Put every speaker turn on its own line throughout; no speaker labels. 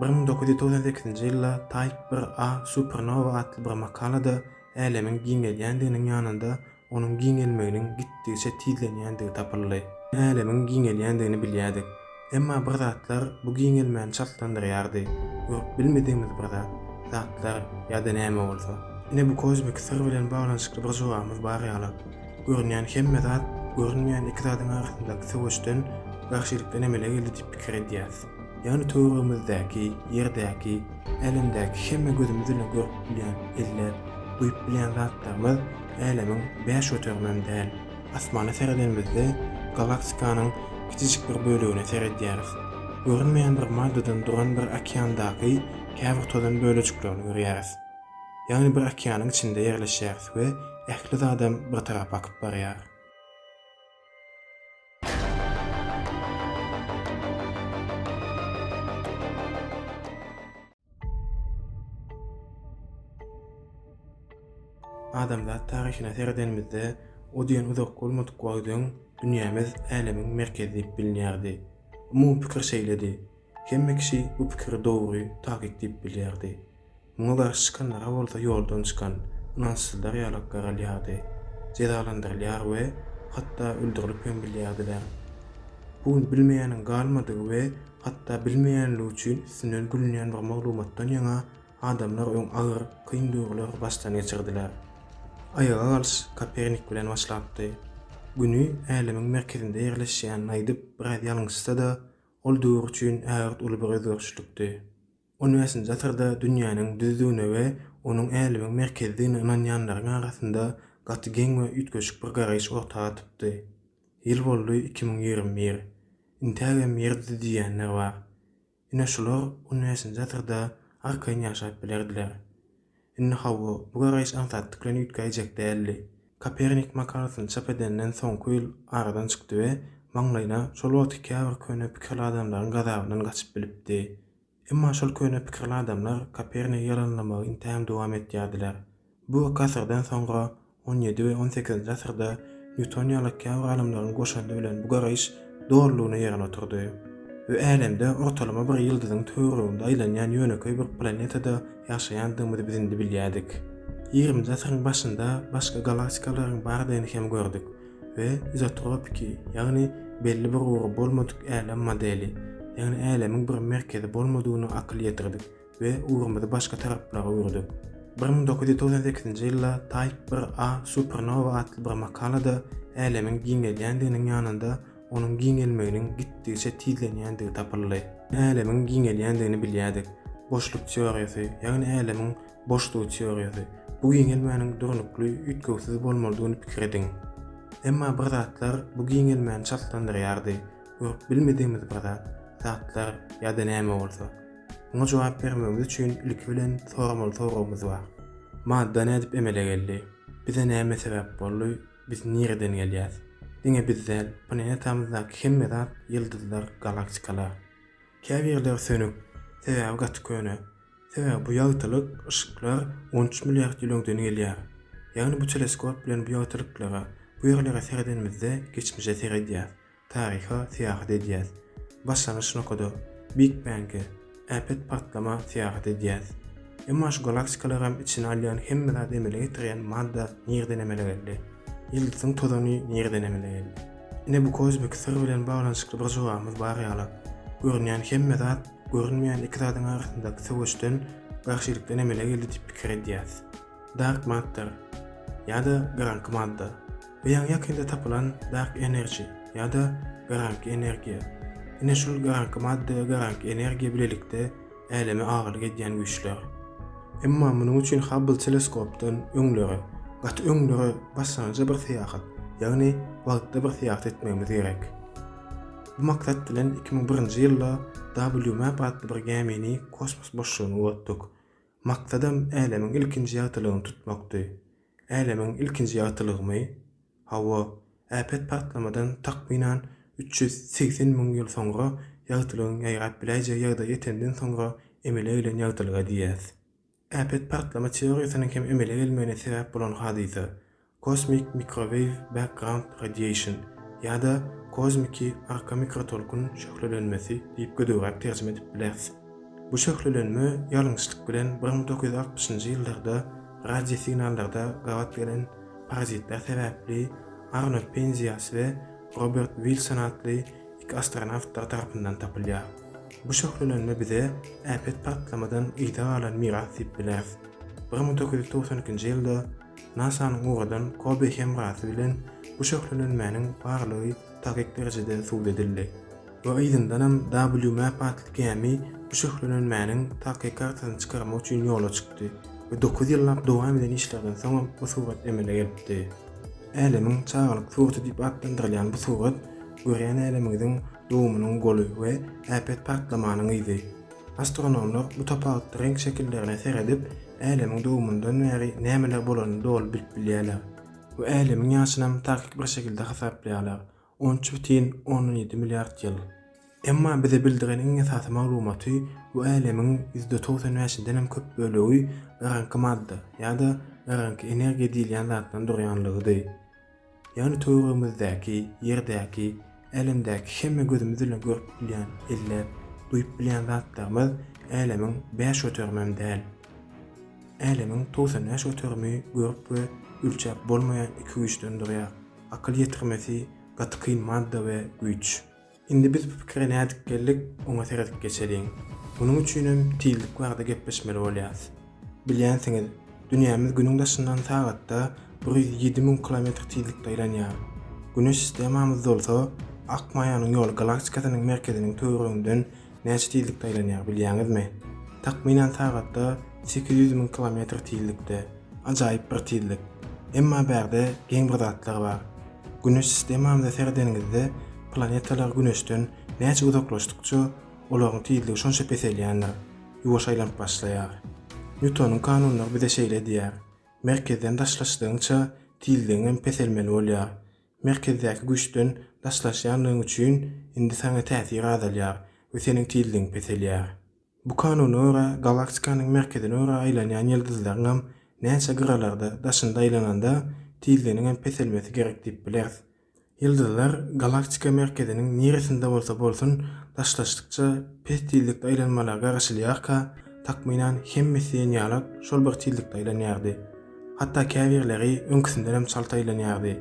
Bir müň dokuz ýüz togsan sekizinji ýylda Type bir A supernowa atly bir makalada Älemiň giňelýändiginiň ýanynda onuň giňelmeginiň gitdigiçe tizlenýändigi tapyldy. Älemiň giňelýändigini bilýärdik. Emma bir zatlar bu giňelmäni çaltlandyrýardy, görüp bilmedigimiz bir zat, zatlar ýa-da näme bolsa. Ine bu kozmiki syr bilen baglanyşykly bir jogabymyz bar ýaly. Görünýän hemme zat görünmeýän iki zadyň arasyndaky söweşden, garşylikden emele geldi diýip pikir edýäris. Ýagny töweregimizdäki, ýerdäki, älemdäki hemme gözümiz bilen görüp bilýän, elläp, duýup bilýän zatlarymyz älemiň bäş göterimem däl. Asmana seredenimizde galaktikanyň kiçijik bir bölegine seredýäris. Görünmeýän bir maddadan duran bir okeandaky käbir tozan bölejiklerini görýäris. Ýagny bir okeanyň içinde ýerleşýäris we ähli zadam bir tarap akyp barýar. Adamzat taryhyna seredenimizde, o diýen uzak bolmadyk wagt öň dünýämiz älemiň merkezi diýip bilinýärdi. Umumy pikir şeýledi. Hemme kişi bu pikiri dogry, takyk diýip bilýärdi. Muňa garşy çykanlara bolsa ýoldan çykan ynançsyzlar ýalak garalýardy, jezalandyrylýar we hatda öldürilip hem bilýärdiler. Bu gün bilmeýäniň galmadygy we hatda bilmeýänligi üçin üstünden gülünýän bir maglumatdan ýaňa adamlar öň agyr, kyn duýgulary başdan geçirdiler. Aýaga galyş Kopernik bilen başlapdy. Güni Älemiň merkezinde ýerleşýänini aýdyp biraz ýalňyşsa-da, ol döwür üçin ägirt uly bir özgerişlikdi. On bäşinji asyrda dünýäniň düzüdigine we onuň älemiň merkezidigine ynanýanlaryň arasynda gaty geň we üýtgeşik bir garaýyş orta atypdy. Ýyl boldy iki müň ýigrimi bir. Intägem ýer düzi diýýänler bar. Ine şular on bäşinji asyrda arkaýyn ýaşap bilerdiler. Indi hawa, bu garaýyş aňsatlyk bilen üýtgäýjek däldi. Kopernik makalasyny çap edenden soňky ýyl aradan çykdy we maňlaýyna şol wagtky käbir köne pikirli adamlaryň gazabyndan gaçyp bilipdi. Emma şol köne pikirli adamlar Kopernigi ýalanlamagy intäm dowam etýärdiler. Bu iki asyrdan soňra On ýedi we on sekizinji asyrda Nýuton ýaly käbir alymlaryň goşandy bilen bu garaýyş dolulygyna ýerine oturdy we Älemde ortalama bir ýyldyzyň töwereginde aýlanýan ýönekeý bir planetada ýaşaýandygymyzy biz indi bilýärdik. Ýigriminji asyryň başynda başga galaktikalaryň bardygyny hem gördük we izotropiki, ýagny belli bir ugry bolmadyk älem modeli, ýagny älemiň bir merkezi bolmadygyna akyl ýetirdik. we ugrumyzy başga taraplara öwürdik. Bir müň dokuz ýüz togsan sekizinji ýylda Type bir A Supernowa atly bir makalada Älemiň giňelýändiginiň ýanynda onuň giňelmeginiň gitdigiçe tizlenýändigi tapyldy. Älemiň giňelýändigini bilýärdik. Boşluk teoriýasy, ýagny Älemiň boşlugy teoriýasy, bu giňelmäniň durnukly, üýtgewsiz bolmalydygyny pikir ediň. Emma bir zatlar bu giňelmäni çaltlandyrýardy, görüp bilmedigimiz bir zat, zatlar ýa-da näme bolsa. Muňa jogap bermegimiz üçin ilki bilen soramaly soragymyz bar. Madda nädip emele geldi? Bize näme sebäp boldy? Biz nireden gelýäs? Diňe biz däl, planetamyzdaky hemme zat, ýyldyzlar, galaktikalar. Käbirleri sönük, sebäbi gaty köne. Sebäbi bu ýagtylyk, yşyklar on üç milliard ýyl öňden gelýär. Ýagny bu teleskop bilen bu ýagtylyklara, bu ýerlere seredenimizde geçmişe seredýäs. Taryha syýahat edýäs. Başlangyç nokada, Big Bang-e, äpet partlama, syýahat edýäs. Emma şu galaktikalagam içine alýan hemme zat emele getirýän madda nireden emele geldi? Ýyldyzyň tozany nireden emele geldi? Ine bu kozmik syr bilen baglanyşykly bir jogabymyz bar ýaly. Görünýän hemme zat görünmeýän iki zadyň arasyndaky söweşden, garşylykdan emele geldi diýip pikir edýäs. Dark Matter ýa-da Garaňky Madda, we ýaňy ýakynda tapylan Dark Energy ýa-da Garaňky Energiýa. Ine şol Garaňky Madda we Garaňky Energiýa bilelikde Äleme agalyk edýän güýçler. Emma munuň üçin Hubble teleskopdan öňlere, gaty öňlere başlangyja bir syýahat, ýagny wagtda bir syýahat etmegimiz gerek. Bu maksat bilen iki müň birinji ýylda WMAP atly bir gämini kosmos boşlugyna ugrutdyk. Maksadam älemiň ilkinji ýagtylygyny tutmakdy. Älemiň ilkinji ýagtylygymy? Hawa, äpet partlamadan takmynan üç ýüz segsen müň ýyl soňra ýagtylygyň ýaýrap biläýjegi ýagdaýa ýetenden soňra emele gelen ýagtylyga diýýäs. Äpet partlama teoriýasynyň hem emele gelmegine sebäp bolan hadysa, Kosmik mikroweýw background radiation ýa-da kozmiki arka mikrotolkun şöhlelenmesi diýip gödegräk terjime edip bileris. Bu şöhlelenme ýalňyşlyk bilen bir müň dokuz ýüz altmyşynjy ýyllarda radio signallarda gabat gelen parazitler sebäpli Arnold Penzias we Robert Wilson atly iki astronawtlar tarapyndan tapylýar. Bu şöhlelenme bize äpet partlamadan yza galan miras diýip bileris. Bir müň dokuz ýüz togsan ikinji ýylda NASA-nyň ugradan Kobe hemrasy bilen bu şöhlelenmäniň barlygy takyk derejede subut edildi we yzyndanam WMAP atly gämi bu şöhlelenmäniň takyk kartasyny çykarmak üçin ýola çykdy we dokuz ýyllap dowam eden işlerden soňam bu surat emele gelipdi. Älemiň çagalyk suraty diýip atlandyrylýan bu surat görýän älemiňiziň dogumynyň goly we äpet partlamanyň yzy. Astronomlar bu tapawutly reňk şekillerine seredip, Älemiň dogumyndan bäri nämeler bolanyny doly bilip bilýärler we Älemiň ýaşynam takyk bir şekilde hasaplaýarlar, on üç bütin ondan ýedi milliard ýyl. Emma bize bildiren iň esasy maglumaty, bu Älemiň ýüzde togsan bäşindenem köp bölegi garaňky madda ýa-da garaňky energiýa diýilýän zatdan durýanlygydy. Ýagny töweregimizdäki, ýerdäki, älemdäki hemme gözümiz bilen görüp bilýän, elläp, duýup bilýän zatlarymyz älemiň bäş göterimem däl. Älemiň togsan bäş göterimi görüp we ölçäp bolmaýan iki güýçden durýar. Akyl ýetirmesi, gaty kyn madda we güýç. Indi biz bu pikire nädip geldik, oňa seredip geçeliň. Munuň üçinem tizlik barada gepleşmeli bolýarys. Bilýänsiňiz, dünýämiz Günüň daşyndan sagatda bir ýüz ýedi müň kilometr tizlikde aýlanýar. Güneş sistemamyz dolsa, Ak maýanyň ýoly galaktikasynyň merkeziniň töwereginden näçe tizlikde aýlanýar, bilýäňizmi? Takmynan sagatda sekiz ýüz müň kilometr tizlikde. Ajaýyp bir tizlik. Emma bärde geň bir zatlar bar. Güneş sistemamyza seredeniňizde planetalar Güneşden näçe uzaklaşdykça olaryň tizligi şonça peselýändir, ýuwaş aýlanyp başlaýar. Nýutonyň kanunlary bize şeýle diýýär, merkezden daşlaşdygyňça tizligiň hem peselmeli bolýar. Merkezdäki güýçden daşlaşýandygyň üçin indi saňa täsir azalýar we seniň tizligiň peselýär. Bu kanuna görä, galaktikanyň merkezine görä aýlanýan ýyldyzlaryň hem näçe gyralarda, daşynda aýlananda, tizliginiň hem peselmesi gerek diýip bileris. Ýyldyzlar galaktika merkeziniň niresinde bolsa bolsun, daşlaşdykça pes tizlikde aýlanmalar garaşylýarka, takmynan hemmesi ýenýalak şol bir tizlikde aýlanýardy. Hatda käbirleri öňküsinden hem çalt aýlanýardy.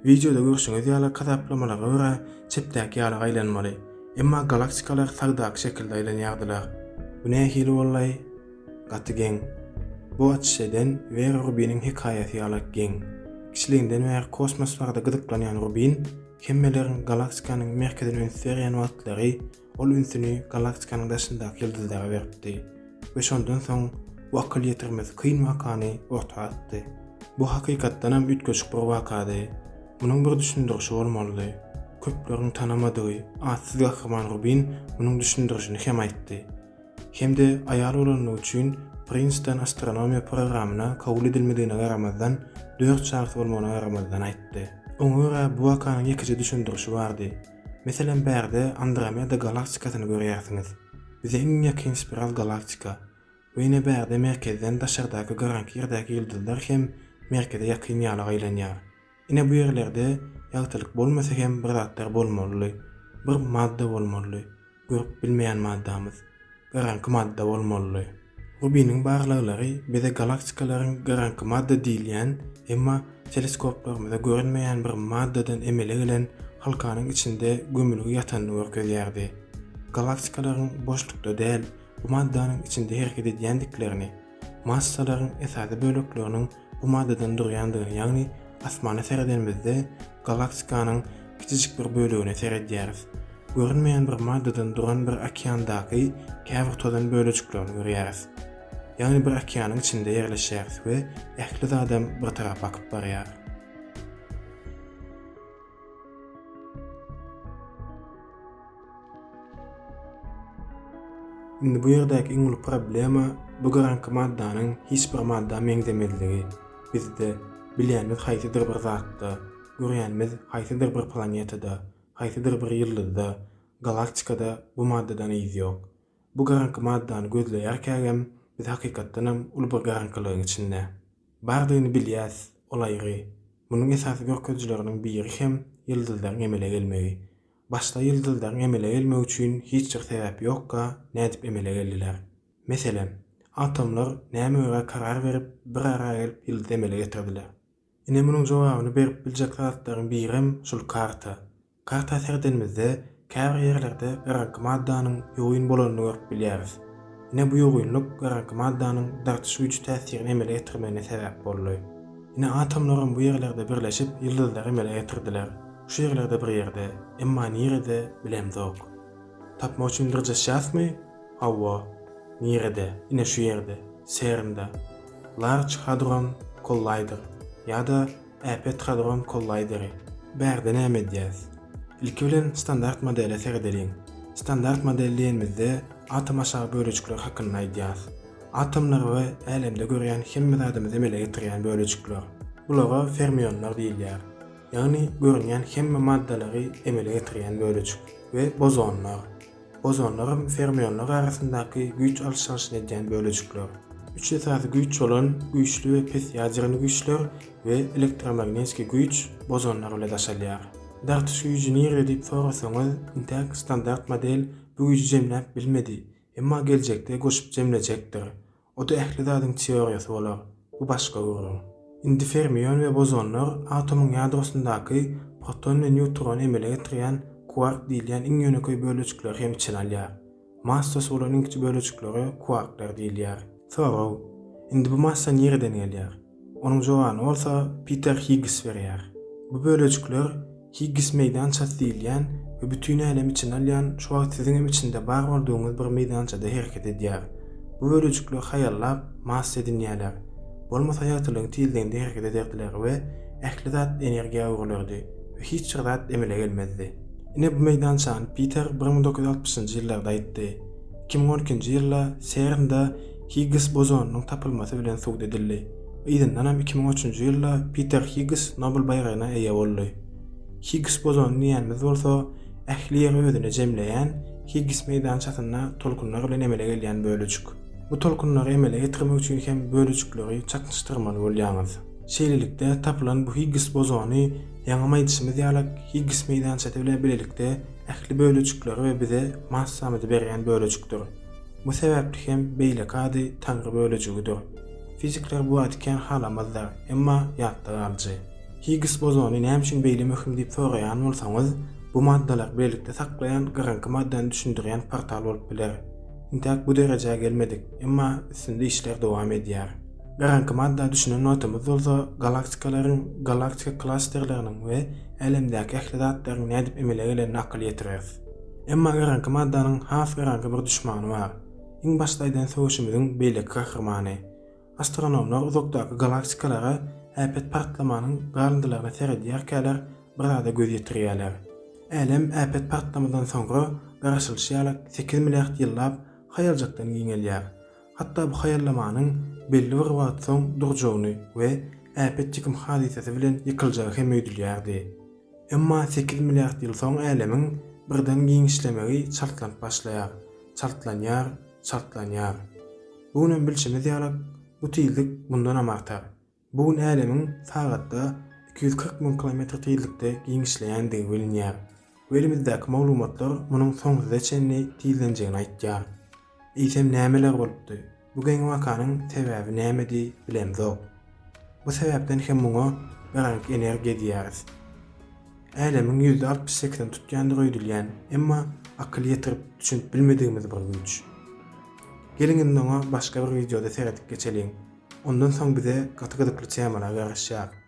Wideoda görşüňiz ýaly hasaplamalara görä çepdäki ýaly aýlanmaly. Emma galaktikalar sagdaky şekilde aýlanýardylar. Bu nähili bollaý? Gaty geň. Bu açyş eden Wera Rubiniň hekaýasy ýalyk geň. Kiçiliginden bäri kosmos barada gyzyklanýan Rubin hemmeleriň galaktikanyň merkezine üns berýän wagtlary Ol ünsüni galaktikanyň daşyndaky ýyldyzlara beripdi we şondan soň bu akyl ýetirmesi kyn wakany orta atdy. Bu hakykatdanam üýtgeşik bir wakady. Munuň bir düşündirişi bolmalydy. Köpleriň tanamadygy atsyz gahryman Rubin munuň düşündirişini hem aýtdy. Hem-de aýal bolandygy üçin Prinston astronomiýa programyna kabul edilmedigine garamazdan, dört çagasy bolmagyna garamazdan aýtdy. Oňa görä bu wakanyň ýekeje düşündirişi bardy. Meselem bärde Andromeda galaktikasyny görýärsiňiz. Bize iň ýakyn spiral galaktika. We ine bärde merkezden daşardaky garaňky ýerdäki ýyldyzlar hem merkeze ýakyn ýaly aýlanýar. Ine bu ýerlerde ýagtylyk bolmasa hem bir zatlar bolmalydy. Bir madda bolmalydy. görüp bilmeýän maddamyz gyraňky madda bolmalydy. Rubiniň barlaglary bize galaktikalaryň gyraňky madda diýilýän, emma teleskoplarymyza görünmeýän bir maddadan emele gelen halkanyň içinde gömülgi ýatanyny görkezýärdi. Galaktikalaryň boşlukda däl, bu maddanyň içinde hereket edýändiklerini, Massalaryň esasy bölekleriniň bu maddadan durýandygyny, ýagny asmana seredenimizde galaktikanyň kiçijik bir bölegine seredýäris. Görünmeýän bir maddadan duran bir okeandaky käbir tozan bölejiklerini görýäris. Ýagny bir okeanyň içinde ýerleşýäris we ähli zadam bir tarap akyp barýar. Indi bu ýerdäki iň uly problema bu garanky maddanyň hiç bir madda meňzemezligi. Bizde bilýänimiz haýsydyr bir zatda, görýänimiz haýsydyr bir planetada, haýsydyr bir ýyldyzda, galaktikada bu maddadan yz ýok. Bu garanky maddany gözleýärkägem biz hakykatdanam uly bir garankylygyň içinde. Bardygyny bilýäs, ol aýry. Munuň esasy görkezijileriniň biri hem ýyldyzlaryň emele gelmegi. Başda ýyldyzlaryň emele gelmegi üçin hiç bir sebäp ýokka, nädip emele geldiler? Meselem, atomlar näme görä karar berip, bir ara gelip ýyldyzy emele getirdiler? Ine munuň jogabyny berip biljek zatlaryň birem şul karta. Karta seredenimizde, käbir ýerlerde garaňky maddanyň ýogyn bolanyny görüp bilýäris. Ine bu ýogynlyk garaňky maddanyň dartyş güýji täsirini emele getirmegine sebäp boldy. Ine atomlaram bu ýerlerde birleşip ýyldyzlary emele getirdiler. Şu ýerlerde bir ýerde, emma nirede, bilemzok. Tapmak üçin dyrjaşýasmy? Hawa. Nirede? Ine şu ýerde, CERN-de. Large Hadron Collider ýa-da Äpet Hadron Kollaýderi. Bärde näme edýäs? Ilki bilen standart modele seredeliň. Standart model diýenimizde atom aşagy bölejikler hakynda aýdýas. Atomlar we älemde görýän hemme zadymyzy emele getirýän bölejikler. Bulara fermionlar diýilýär. Ýagny görünýän hemme maddalary emele getirýän bölejik, we bozonlar. Bozonlar hem fermionlar arasyndaky güýç alyş-çalşyny edýän bölejikler. Üç esasy güýç bolan güýçli we pes ýadernýi güýçler we elektromagnetski güýç bozonlar bile daşalýar. Dartyş güýji nirede diýip sorasaňyz, intäk standart model bu güýji jemläp bilmedi, emma geljekde goşup jemlejekdir. Oda ähli zadyň teoriýasy bolar, bu başga gürrüň. Indi fermion we bozonlar atomyň ýadrosyndaky proton we nýutrony emele getirýän kwark diýilýän iň ýönekeý bölejikleri hem içine alýar. Massasy bolan iň kiçi bölejiklere kwarklar diýilýär. Sorag, Indi bu massa nireden gelýär? Onuň jogany bolsa Piter Higgis berýär. Bu bölejikler Higgis meýdançasy diýilýän we bütin älemi içine alýan şu wagt siziň hem içinde bar boldugyňyz bir meýdançada hereket edýär. Bu bölejikler haýallap, massa edinýärler. Bolmasa ýagtylygyň tizliginde hereket ederdiler we ähli zat energiýa öwrülerdi we hiç bir zat emele gelmezdi. Ine bu meýdançany Piter bir müň dokuz ýüz altmyşynjy ýyllarda aýtdy. Iki müň on ikinji ýylda CERN-da Higgs bozonynyň tapylmasy bilen subut edildi. Yzyndanam iki müň üçünji ýylda Piter Higgs Nobel baýragyna eýe boldy. Higgs bozony diýýänimiz bolsa ähli ýeri özüne jemleýän Higgs meýdançasynda tolkunlar bilen emele gelýän bölejik. Bu tolkunlary emele getirmek üçin hem bölejikleri çaknyşdyrmaly bolýaňyz. Şeýlelikde, tapylan bu Higgs bozony, ýaňam aýdyşymyz ýaly, Higgs meýdançasy bilen bilelikde ähli bölejikleri we bize massamyzy berýän bölejikdir. Bu sebäpli hem beýleki ady Taňry bölejigidir. Fizikler bu ady kän halamazlar, emma ýatda galyjy. Higgs bozony näme üçin beýle möhüm diýip soraýan bolsaňyz, bu maddalary birlikde saklaýan gyrynky maddany düşündirýän portal bolup biler. Intäk bu derejä gelmedik, emma üstünde işler dowam edýär. Gyrynky madda düşünen wagtymyz bolsa galaktikalaryň, galaktika klasterleriniň we Älemdäki ähli zatlaryň nädip emele gelenine akyl ýetireris. Emma garanky maddanyň has garanky bir duşmany bar. Iň başda aýdan söweşimiziň beýleki gahrymany. Astronomlar uzakdaky galaktikalara äpet partlamanyň galyndylaryna seredýärkäler bir zada göz ýetirýärler. Älem äpet partlamadan soňra garaşylyşy ýaly sekiz milliard ýyllap haýaljakdan giňelýär. Hatda bu haýallamanyň belli bir wagt soň durjagyny we äpet ýykym hadysasy bilen ýykyljagy hem öýdülýärdi. Emma sekiz milliard ýyl soň älemiň birden giňişlemegi çaltlanyp başlaýar, çaltlanýar, çaltlanýar. Bu gün hem bilşimiz ýalak, bu tizlik mundanam artar. Bu gün älemiň sagatda iki ýüz kyrk müň kilometr tizlikde giňişleýändigi bilinýär we elimizdäki maglumatlar munuň soňsuza çenli tizlenjegini aýtýar. Eýsem nämeler bolupdy? Bu geň wakanyň sebäbi nämedi, bilemzok. Bu sebäpden hem muňa öränlik energiýa diýýäris. Älemiň ýüzde altmyş sekizini tutýandygy öýdülýän, emma akyl ýetirip düşünip bilmedigimiz bir güýç. Geliň indi oňa başga bir wideoda seredip geçeliň. Ondan soň bize gaty gyzykly temalar garaşýar.